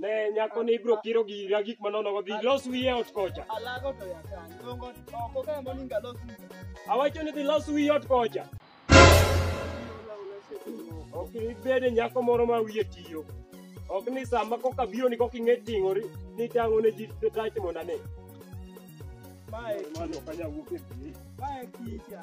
Ne nyako ni ibro kiro gira gik manono go dhi los wiye ot kocha. Alago to ya kan. Dongo oko ka mo ninga los. Awacho ni dhi los wiye ot kocha. Ok ibede nyako moro ma wiye tiyo. Ok ni sama koka biro ni koka ing'e ting'ori ni tang'o ne ji tach mondo ane. Mae. Mano kanya wuok e pii. Mae kicha.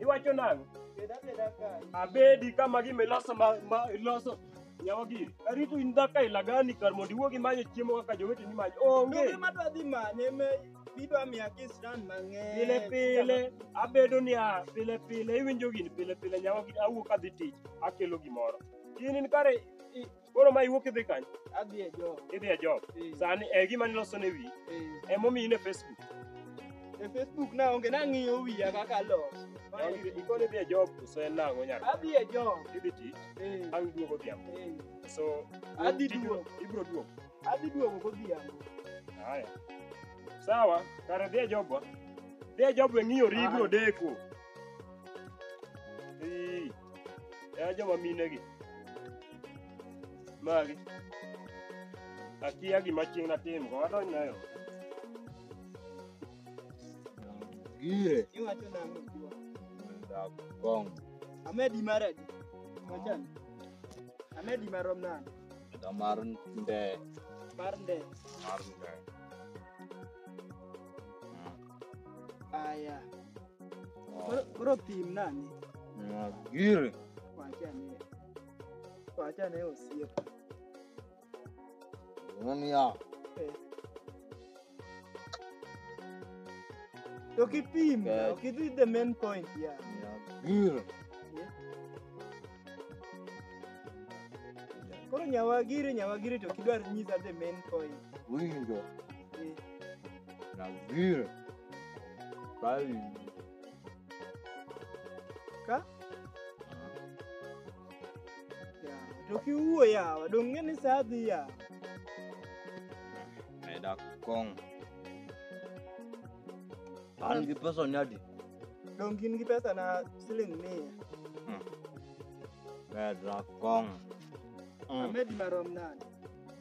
Iwacho nang'o? Abedi kama gima iloso ma, ma iloso nyawa giri. Arito in dhaka ilagani kar mondo iwuogi manyo chiemo kaka joweteni manyo. Onge. Onge madwa dhi manye me bidwa miya kisran mang'eny. pile pile abedo niya pile pile iwinjo gini pile pile nyawa gini awuok adhi tich akelo gimoro in in kare i- Koro ma iwuok idhi kanye? Adhi e job. Idhi e job. Eh. Sani e gima niloso ne wiyi. Eh. Ema omiyi ne Facebook. E Facebook na onge nang'iyo wiya kaka los. Ikoni idhi e job koso en nang'o nyaka? Adhi e job. Idhi tich. Eh. Bang' duogo odhiambo. So adhi duogo. Ibiro duogo. Adhi duogo godhiambo. Haya. Sawa, kare dhi e jobwa. Dhi e jobwa ng'iyo ri ibiro deko. ya joma minegi magi akia gima chieng' natim go adonj nayo gire Iwacho nang'o jiwa? dakong Amedi mar adi? Wachan. Amedi marom nade? da mar nde Mar nde. mar nde Aya. Koro- Koro pim nani? Magire. Wachane. Wachane osiep. Nani ya? Eh. To kipim, Okay. okay, this is the main point here. Magire. Koro nyawagiri nyawagiri to kidwar nyisa the main point. Winjo. Brasil. Brasil. Ka? Ya, to kiwuo yawa, dong ng'e ni sa adhi yawa. Meda kong. An gi pesa ni adi? Dong gin gi pesa na siling mia. Meda kong. Mm. Amedi marom nade?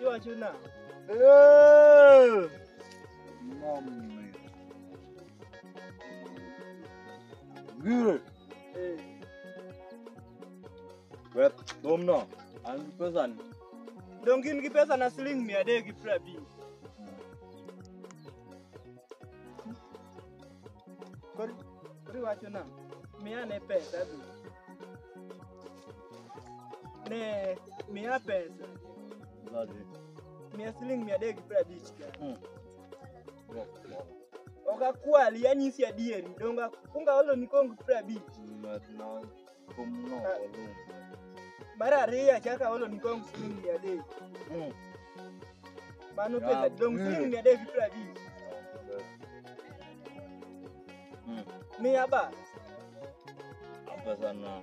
Iwacho na. Gire. Eh. Wet domno. An gi pesa ni. Dong gin gi pesa na siling mia adek gi piero abich. Kori kori wacho na. Mia ne pesa du. Ne, mia pesa. Mia siling mia adek gi piero abich ka. Ok akwal, yanyisi adieri. Donga kunga olo ni kong piero abich. Mar ariyo achaka olo ni kong siling mia adek. Mano pesa, dong siling mia adek gi piero abich. Mia ba. Apa sana.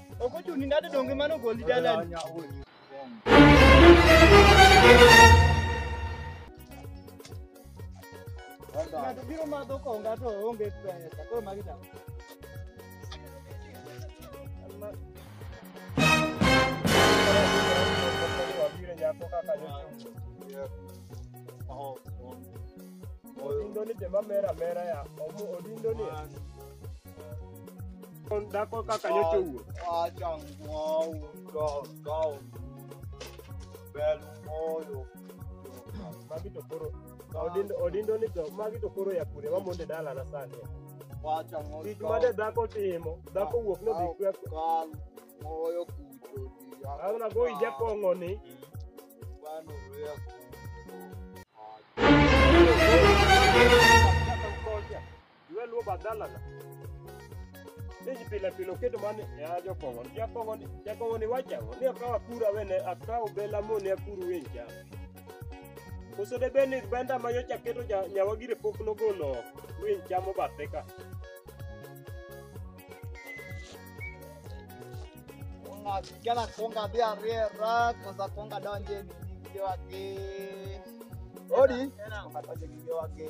Ok ochuni nade donge mano goli dalani? Ng'ato biro madho konga to onge pesa. Koro magi dawa. Odindoni jema mera mera ya. Omu odindoni. Dhako kaka nyocha owuok. Wacha ng'owu ndong' ndong'. Bel moyo. Magi to koro odindo odindo ni to magi to koro ya kure wamonde dala na sani. Wacha ng'owu Tich ndong'. made dhako timo, dhako wuok no dhi kwe. Kal moyo kucho diya. Ana go ija kongo ni. Bano rea kucho. Iwe luo badhalana. Niji pile pile okedo mane ya jokongo. Jakongo ni jakongo ni wacha ni akawa kura wene akawa bela mo ne akuru wenja. Koso de beni benda ma yocha keto ja nyawa gire pok no golo wenja mo bateka. Konga kijana konga bia rera koza konga donje ni video wake. Odi. Konga donje ni video wake.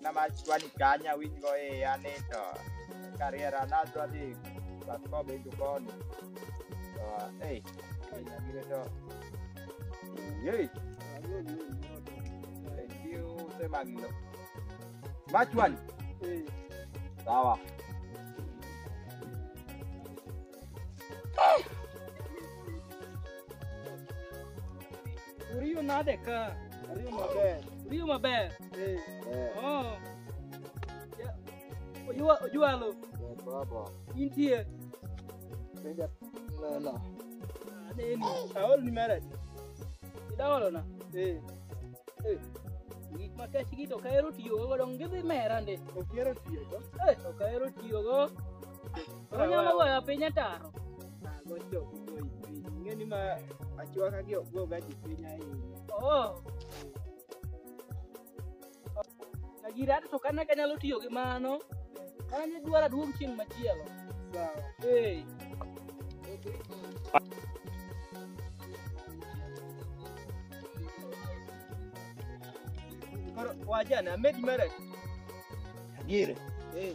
Nama chwani kanya winj go e ya ni to kariera na dwa dhi but ko be jukoni. To ei kanya gire to. Yei. Thank you sema gino. Machwani. Sawa. Uriyo nade ka? Ariyo maber. Uriyo maber. Eh, Eh, Oh. Ya- Ojua ojualo eh, baba. intie. Penja neno. Aneni. Aol ni mara. Idaolo na. Eh, Eh. Gik ma kech gi to kaero tiyo go dong gidhi mera ndi. okiero tiyo go. Eh, to kaero tiyo go. Onyalo weyo piny ataro. Ng'eni ma achwaka gi ok goga ji piny ahinya. Oh. Agira to kana kanyalo tiyo gi mano. Kane dwara duong' chieng' machielo. Sawa. Hey. Koro wajana med mara. Agire. Eh.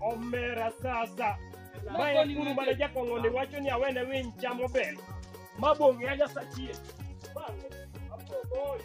omera sasa mae kuru mana jakong'oni wacho ni awene winy chamo bel ma bong'e anyasachie bang'e apogoyo